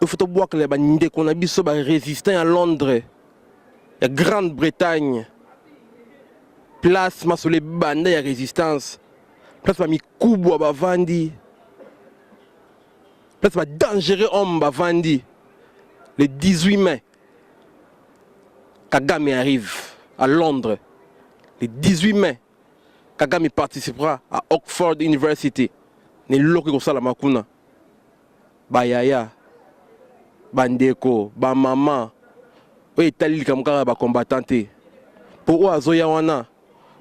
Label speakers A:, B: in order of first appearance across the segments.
A: il faut tobwakela bandeko na biso barésistant ya londres ya grande bretagne place masolo ebanda ya résistance place bamikubwa bavandi place badangereux homme bavandi le 18 mai kagame arrive à londres le 18 mai kagame participera à oxford university na eloko ekosalama kuna ba yaya, ba ndeko, ba maman oyo etali likambo kaka ba combattants te. Po oyo azoya wana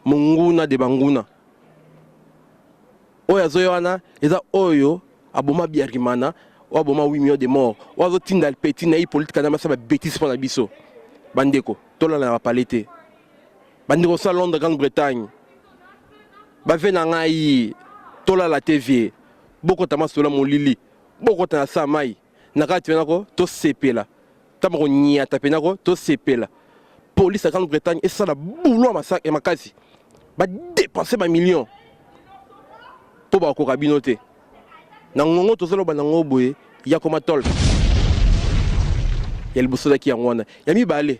A: munguna de banguna. Oyo azoya wana eza oyo aboma Biarimana, oyo aboma 8 millions de morts, oyo azotinda petit na Hippolyte Kanambe asala ba betises pona biso. Ba ndeko, tolala na ba palais te. Ba ndeko osa Londres, Grande Bretagne, ba vieux na ngai tolala te vieux. bokota masolo ya molili bokota na saa mai na kati mpe nako tosepela ntango konyata mpe nako tosepela polise ya grande bretagne esala boulot ya makasi badepense bamillion mpo bakoka bino te na ngongo tozoloba na ngo boye yakoma tol ya liboso ezalaki yango wana ya mibale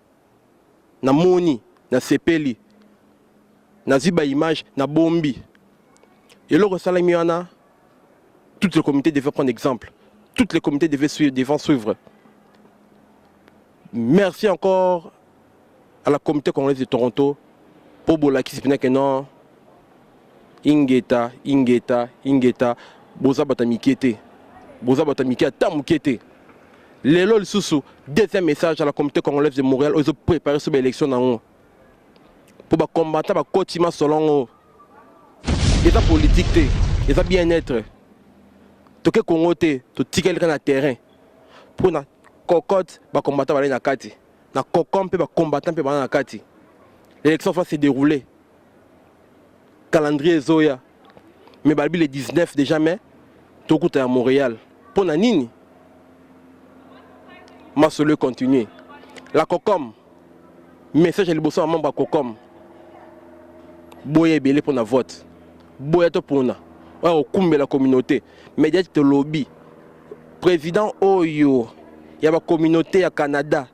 A: na moni na sepeli na ziba image na bombi eloko salami wana toutes les comités devaient prendre exemple toutes les comités devaient suivre, devant suivre merci encore à la comité congolaise de Toronto pour bolakisi pina que non Ingeta, ingeta, ingeta, boza bata mikie te. Boza bata mikie ata mukie te. Lelo lisusu deuxième message à la communauté congolaise de Montréal ozo préparer sur l'élection nango. Pour ba combattre ba koti ma solongo. Eza politique te, eza bien-être. Toke Congo te, to tikali na terrain. Pour na cocotte ba combattre ba na kati. Na cocon pe ba combattant pe ba na kati. L'élection va se dérouler. calendrier ezoya mais balobi le 19 déjà mai tokuta ya montréal mpo na nini masolo econtinue la cocom message ya liboso ya membre ya cocom boya ebele mpo na vote boya topona oyo akokumbela communauté mediati tolobi président oyo ya bacommunauté ya canada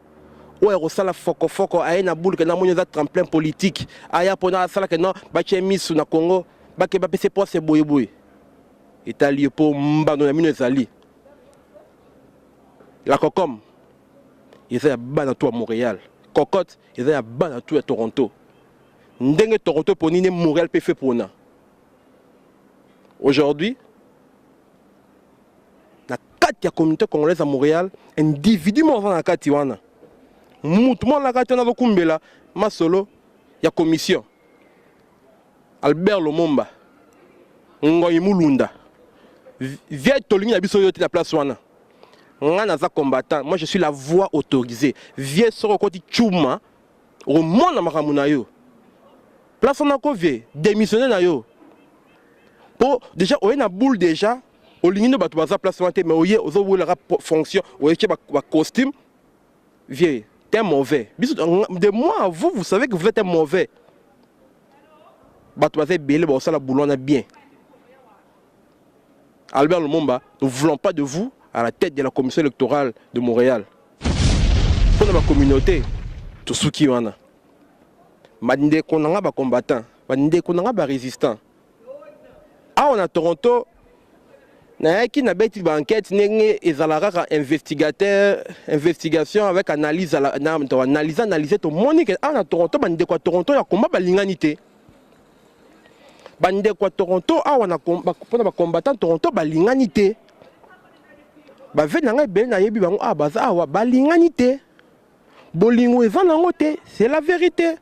A: oyo akosala fokofoko aye na buluke na moni eza tremplin politique aya mpona asala ke no batye misu na congo bake bapese poste boyeboye etali ye mpo mbano na mino ezali la cocom eza ya bana to ya montréal cocotte eza ya bana to ya toronto ndenge toronto eponi nde montréal mpe fe pona aujourd'hui na kati ya communauté congolaise ya Montréal individu moko aza na kati wana mutu moko na kati wana azokumbela masolo ya commission Albert Lomomba Ngoyi Mulunda vieille tolingi na biso yo te na place wana nga naza combattant moi je suis la voix autorisée vieille soko okoti chuma omona makambo na yo place wana ko vie démissionne na yo po déjà oye na boule déjà olingi nde bato baza place wana te mais oye ozowelaka fonction oyeke bacostume vieux t'es mauvais biso de moi à vous vous savez que vous êtes un mauvais bato baza ebele bakosala boulot wana bien albert lumumba nous voulons pas de vous à la tête de la commission électorale de montréal mpo na bacommunauté tosuki wana bandeko na ngai bacombattant bandeko na ngai barésistant awa na toronto nayaki nabeti baenquête ndenge ezalaka kaka investigateur investigation avec analyse analyse analyse tomoni ke awa na toronto bandeko ya toronto ya komba balingani te bandeko ya toronto awa mpona bacombattant toronto balingani te baveni na ngai ebele nayebi bango awa baza awa balingani te bolingo eza nango te c'est la vérité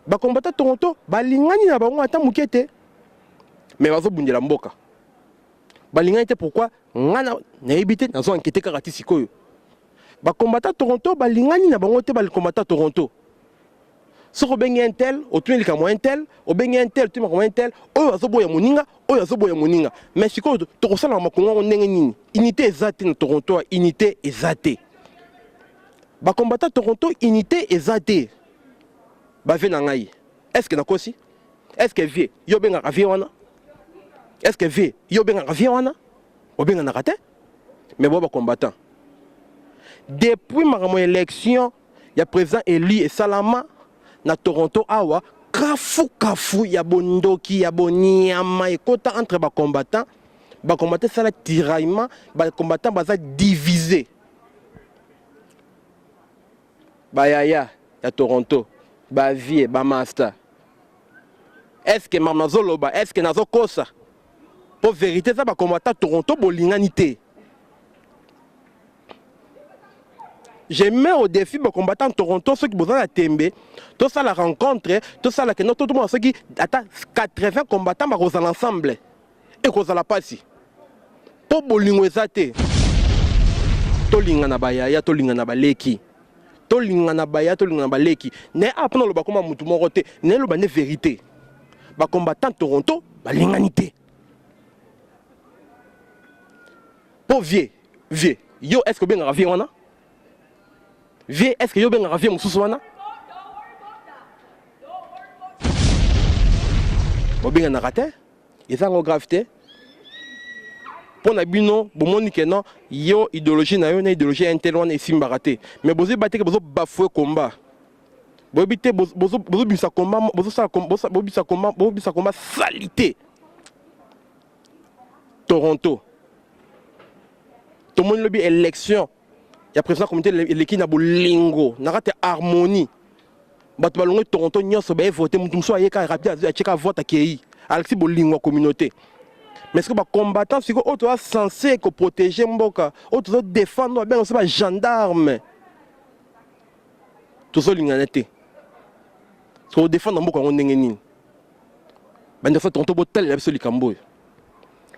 A: ba combattant toronto balingani na bango ata moke te mais bazobundela mboka balingani te pourquoi ngai nayebi te nazo ankete kaka ti sikoyo bakombata toronto balingani na bango te bakombata toronto soki obengi un tel otuni likambo un tel obengi un tel otuni makambo un tel oyo azoboya moninga oyo azoboya moninga mais sikoyo tokosalaka makongo yango ndenge nini unité eza te na toronto unité eza te ba combattant Toronto unité eza te ba vie na ngai est ce que nakosi est ce que vie yo bengaka vie wana est ce que vie yo bengaka vie wana obenganaka te mais boa ba combattant depuis makambo élection ya président élu esalama na Toronto awa kafu kafu ya bondoki ya boniama ekota entre ba combattant ba combattant esala tiraillement ba combattant baza divise ba yaya ya Toronto ba vie ba masta est-ce que mama zoloba est-ce que nazo kosa po vérité eza ba combattant Toronto bolingani te je mets au défi ba combattant Toronto soki boza na tembe to sala rencontre to sala que notre tout soki ata 80 combattants ba kozala ensemble ekozala mpasi mpo bolingo eza te tolingana bayaya tolingana baleki tolingana baya tolingana baleki naye awa mpona aloba koma motu moko te naye loba nde verité bacombattant toronto balingani te mpo vie vie yo est ce que obengaka vie wana vie est ce que yo obengaka vie mosusu wana bobenganaka te eza yango grave te mpo na bino bomoni ke non yo idéologie na yo na idéologie ya intel wana esimbaka te mais bozoyeba te ke bozo bafoue combat boyebi te bozobimisa combat bozobimisa combat bozobimisa combat salite toronto tomoni lobi élection ya président comité eleki na bolingo na kati ya harmonie bato balongwe toronto nyonso baye vote moto mosusu ayeka rapide atyeka vote akei alakisi bolingo ya communauté mais soki bacombattant sikoyo oyo toza sense koprotege mboka oyo tozo défendre oyo babenga biso bagendarme tozolingana te tokodefendre mboka yango ndenge nini bandeko tonto botalela biso likambo oyo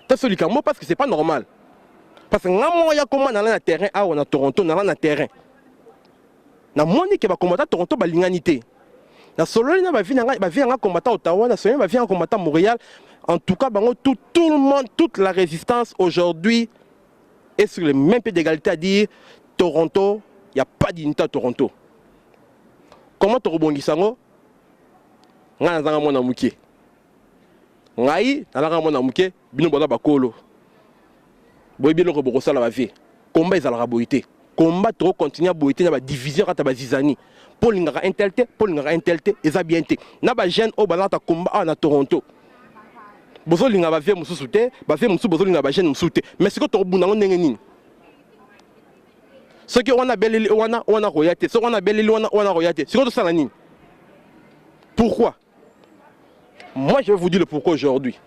A: taso likambo parce que c'est pas normal parce que nga moko ya koma nala na terrain awa na toronto nala na terrain namoni ke bakombata toronto balingani te nasololi na bavi na ngai bavi ya ngai kombata ottawa nasololi na bavi ya ngai kombata montréal en tout cas bango tout, tout le monde toute la résistance aujourd'hui est sur le même pied d'égalité à dire toronto il n'y a pas d'unité à toronto comment tokobongisa yango ngai nazanga mwana moke ngai nazanga mwana moke bino boza bakolo boyebi eloko bokosala bavie komba ezalaka boye te komba tokokontinue boye te na badivision kata bazizani mpo olingaka intel te mpo olingaka intel te eza bien te na bajeune oyo bazalaka komba awa na toronto bozolinga bavie mosusu te bavie mosusu bozolinga bajeune mosusu te mais sikoyo tokobunda yango ndenge nini soki wana abeleli wana wana akoya te soki wana abeleli wana wana akoya te sikoyo tosala nini pourquoi moi je vais vous dire le pourquoi aujourd'hui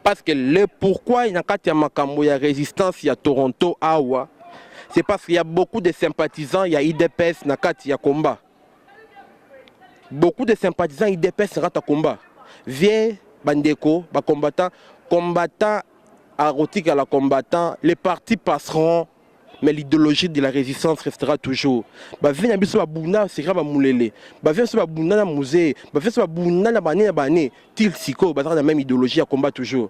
A: parce que le pourquoi na kati ya makambo ya résistance ya toronto awa c'est parce qu'il y a beaucoup de sympathisants ya idps na kati ya combat beaucoup de sympathisants idps rat à combat vient bandeko ba combattant combattant akotika la combattant les partis passeront mais l'idéologie de la résistance restera toujours bavie na biso babunda seka bamulele bavie biso babunda na musee bavie biso babunda na bane na bane til sikoyo bazalaka na même idéologie ya combat toujours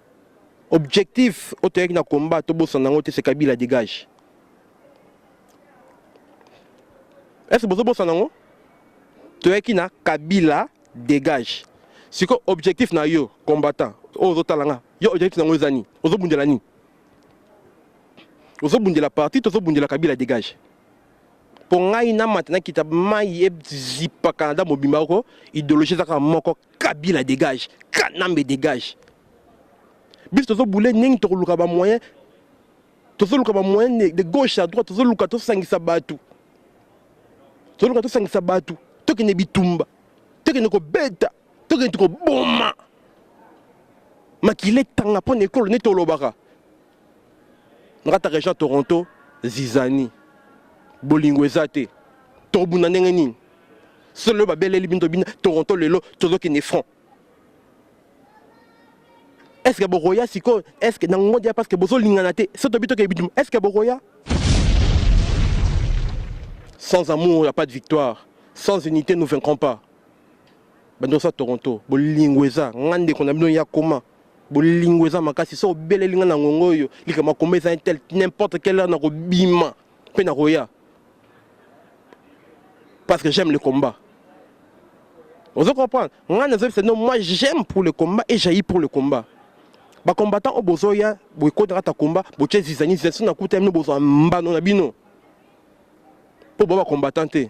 A: objectif oyo toyaki na combat tobosana yango te se kabila dégage est-ce bozobosana yango toyaki na kabila dégage siko objectif na yo combattant oyo ozotala nga yo objectif na yango eza nini ozobundela nini ozobundela parti tozobundela kabila dégage mpo ngai namata nakita mai ezipa canada mobimba oko ideologie ezaka moko kabila dégage kanambe dégage biso tozobule ndenge tokoluka bamoyen tozoluka bamoyen de gauche à droite tozoluka tosangisa bato tozoluka tosangisa bato tokende bitumba tokende kobeta tokende koboma makila etanga mpo na ekolo neti olobaka ngata region toronto zizani bolingo eza te tobunda ndenge nini solo lelo babeleli bino tobina toronto lelo tozokende front est ce que bokoya sikoyo est ce que na ngodi ya parce que bozolingana te so tobi tokende bitumba est ce que bokoya sans amour ya pas de victoire sans unité nous vaincrons pas bandosa toronto bolingo eza nga ndeko na bino ya koma bolingo eza makasi so obeleli nga na ngongo oyo likambo akoma eza tel n'importe quelle heure nakobima mpe nakoya parce que j'aime le combat ozo comprendre nga nazobisa no moi j'aime pour le combat et jailli pour le combat bacombattant oyo bozoya boekodaka ta combat botye zizani zizani so nakuta bino bozwa mbano na bino mpo boa bacombattant te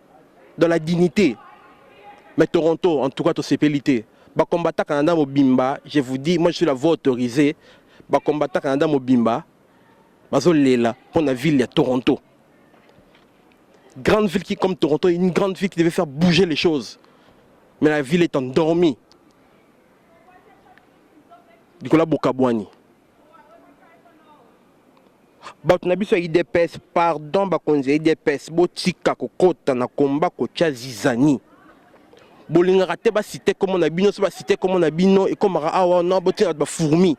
A: dans la dignité mais Toronto en tout cas to sepeli te ba combattant Canada mobimba je vous dis moi je suis la voix autorisée ba combattant Canada mobimba bazo lela pour la ville ya Toronto grande ville qui comme Toronto une grande ville qui devait faire bouger les choses mais la ville est endormie Nicolas Bokabwani bato na biso ya idps pardon bakonzi ya idps botika kokota na komba kotya zizani bolingaka te basite nkombo na bino so basite nkombo na bino ekomaka awa wana botika bato bafourmi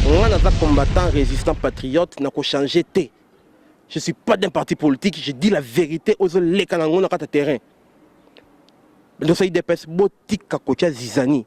A: ngai naza combattant résistant patriote nakochange te je suis pas d'un parti politique je dis la vérité ozoleka na yango na kati ya terrain ndosa idps botika kotya zizani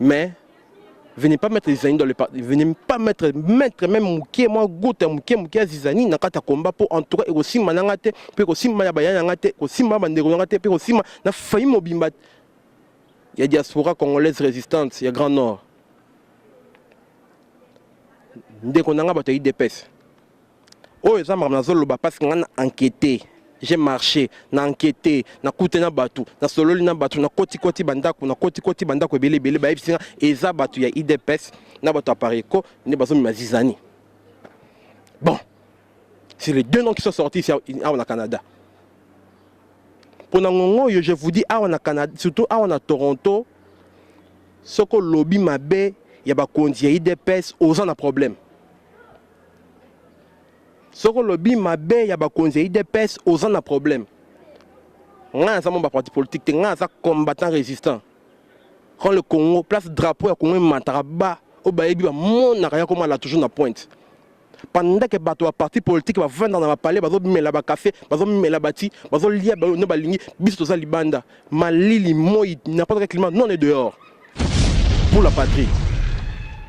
A: mais venez pas mettre zizani dans le parti venez pas mettre mettre même mukie mwa gouta mukie mukie ya zizani na kati ya combat mpo en tout cas ekosimba na nga te mpe ekosimba ya bayani na nga te ekosimba ya bandeko na nga te mpe ekosimba na fayi mobimba ya diaspora congolaise résistante ya grand nord ndeko na nga bato ya idps oyo eza makambo nazoloba parce que ngai na enquete j'ai marché na enquete na kute na bato na sololi na bato na koti koti bandako na koti koti bandako ebele ebele bayebisi nga eza bato ya idps na bato ya pareco nde bazomema zizani bon c'est les deux noms qui sont sortis ici awa na canada mpo na ngongo oyo je vous dis awa na canada surtout awa na toronto soko lobi mabe ya bakonzi ya idps oza na problème soki olobi mabe ya bakonzi ya idps oza na problème ngai naza mwa baparti politique te ngai naza combattant résistant quand le congo place drapeau ya congo emataka ba oyo bayebi bamonaka ya komala toujours na pointe pendant ke bato ya parti politique bavanda na bapale bazomela bakafe bazomela bati bazolia ne balingi biso toza libanda malili moi n'importe quel climat non est dehors pour la patrie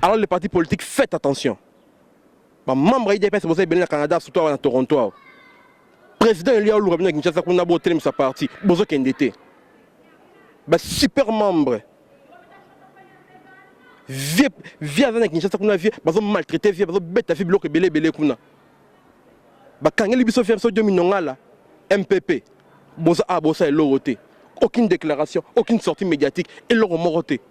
A: alors les partis politiques faites attention ba membre ya idps boza ebele na canada surtout awa na toronto awa président elia oluka bino ya kinshasa kuna botelemisa parti bozokende te ba super membre vie vie aza na kinshasa kuna vie bazo maltraite vie bazobeta vie biloko ebele ebele kuna bakangeli biso vie biso dio minongala mpp boza a bosa eloko te aucune déclaration aucune sortie médiatique eloko moko te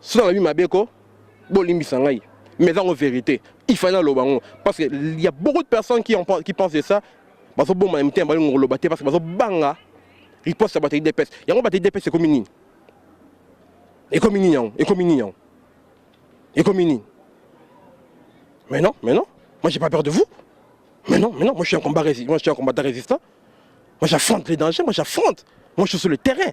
A: soki nalobi mabe ko bolimbisa ngai mais eza ngo vérité il fallait naloba yango parce que il y a beaucoup de personnes qui, en, qui pensent de ça bazoboma na mitema balingo koloba te parce que bazobanga riposte ya bato ya idps yango bato ya idps ekomi nini ekomi nini yango ekomi nini yango ekomi nini mais non mais non moi j'ai pas peur de vous mais non mais non moi je suis un combat moi je suis un combattant résistant moi j'affronte les dangers moi j'affronte moi je suis sur le terrain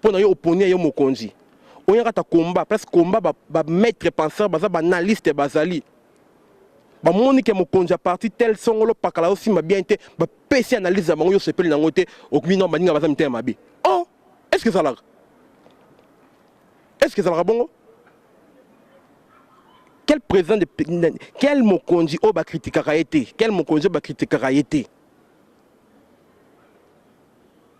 A: pona yo oponi ya yo mokonzi oyaka ta combat presque combat ba, ba maître penseur baza ba analyste bazali bamoni ke mokonzi ya parti tel songolo pakala osimba bien te bapesi analyse ya bango yo osepeli nango te okmino baninga baza mitema mabe o oh, est ce que ezalaka est ce que ezalaka bongo quel président de quel mokonzi oyo bakritikaka ye te quel mokonzi oyo bakritikaka ye te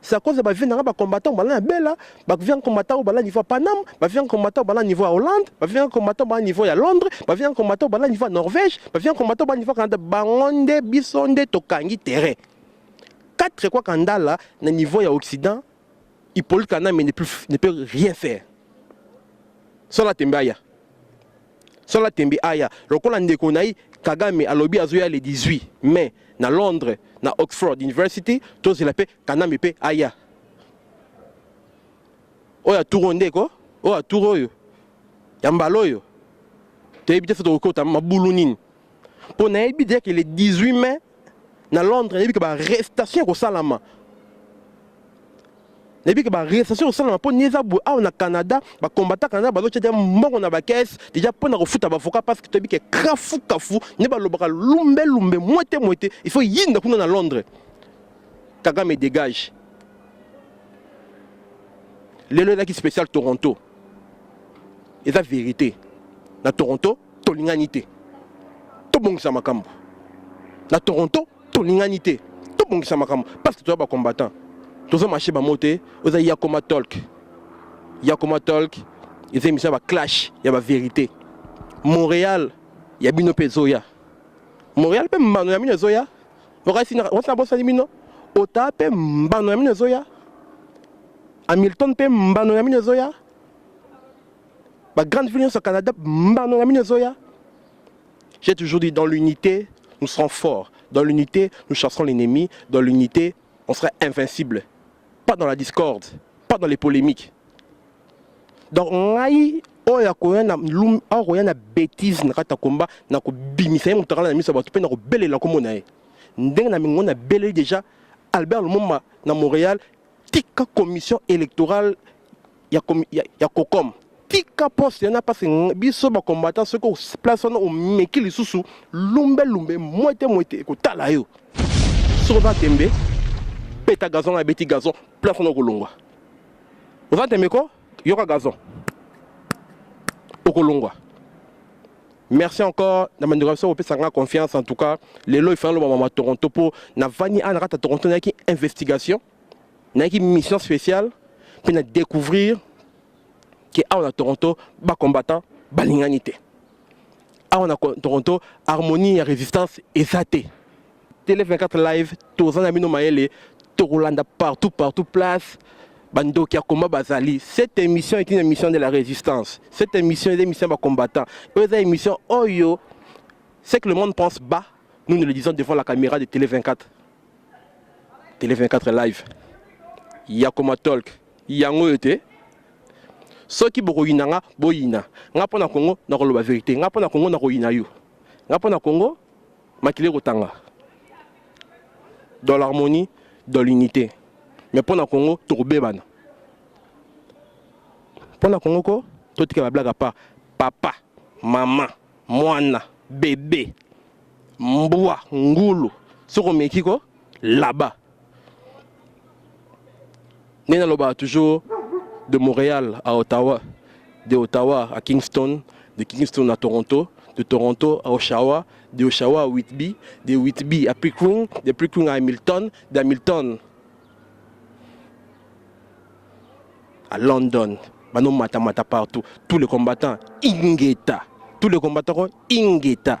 A: C'est à cause de ba vie nanga ba combattants bala na Bella, ba vie combattant bala niveau à Paname, ba vie combattant bala niveau à Hollande, ba vie combattant bala niveau à Londres, ba vie combattant bala niveau à Norvège, ba vie combattant bala niveau à Canada, bangonde bisonde tokangi terrain. Quatre quoi kandala na niveau ya Occident, Hippolyte Kaname ne peut, ne peut rien faire. Sola tembaya. Sans la tembe aya lokola ndeko na ye Kagame alobi azoya le 18 mai na Londres na Oxford University tozela mpe Kanambe mpe aya oyo ya tour oyo ndeko oyo ya tour oyo ya mbala oyo toyebi te soki tokokota mabulu nini mpo nayebi deja ke le 18 mai na londres nayebi ke barestation ekosalama nayebi ke barestation ekosalama mpo ni eza boye awa na canada bakombata canada bazotya deja mbongo na bakese deja mpo na kofuta bavoka parce que toyebi ke kafu kafu nde balobaka lumbe lumbe mwete mwete il faut yinda kuna na londres kagame dégage lelo ezalaki spécial toronto eza vérité na toronto tolingani te tobongisa makambo na toronto tolingani te tobongisa makambo parce que toza bacombattant toza marché bango te oza yakoma tolk yakoma tolk eza emission ya baclash ya baverité montréal ya bino mpe ezoya montréal mpe mbano ya bino ezoya okasi nabosani bino ota mpe mbano ya bino ezoya hamilton mpe mbano ya bino ezoya ba grande ville nyonso ya canada mbano na mino ezoya j'ai toujours dit dans l'unité nous serons forts dans l'unité nous chasserons l'ennemi dans l'unité on sera invincible pas dans la discorde pas dans les polémiques donc ngai oyo akoya na lum akoya na bêtise na kati ya komba na kobimisa ye moto akala na miso ya bato mpe na kobelela nkombo na ye ndenge na mingo nabeleli déjà albert lumumba na montréal tika commission électorale ya, ya, ya cocom tika poste yana mpasi biso bacombattant soki place wana omeki lisusu lumbelumbe mwete mwete ekotala yo soki oza tembe beta gazon abeti gazon place wana okolongwa oza tembe ko yoka gazon okolongwa merci encore na bandeko ya biso kopesa nga confiance en tout cas lelo ifana loba mama toronto mpo navandi awa na kati ya toronto nayaki investigation nayaki mission spéciale mpe na découvrir ke awa na toronto bacombattant balingani te awa na toronto harmonie ya résistance eza te Tele 24 live toza na bino mayele tokolanda partout partout place bandoki ya combat bazali cette émission est une émission de la résistance cette émission est une émission ba combattant oyo eza émission oyo ce que le monde pense bas nous nous le disons devant la caméra de télé 24 télé 24 live yakoma talk yango oyo te soki bokoyina nga boyina nga mpo na kongo nakoloba verité nga mpo na kongo nakoyina yo nga mpo na kongo makila ekotanga dans l'harmonie dans l'unité mais mpo na congo tokobebana mpo na congo ko totika bablaka pa papa mama mwana bebe mbwa ngulu soki omeki ko laba nde nalobaka toujours de montréal à ottawa de ottawa à kingston de kingston à toronto de toronto à oshawa de oshawa à whitby de whitby à pickering de pickering à hamilton de hamilton à london bano matamata partout tous les combattants ingeta tous les combattants ingeta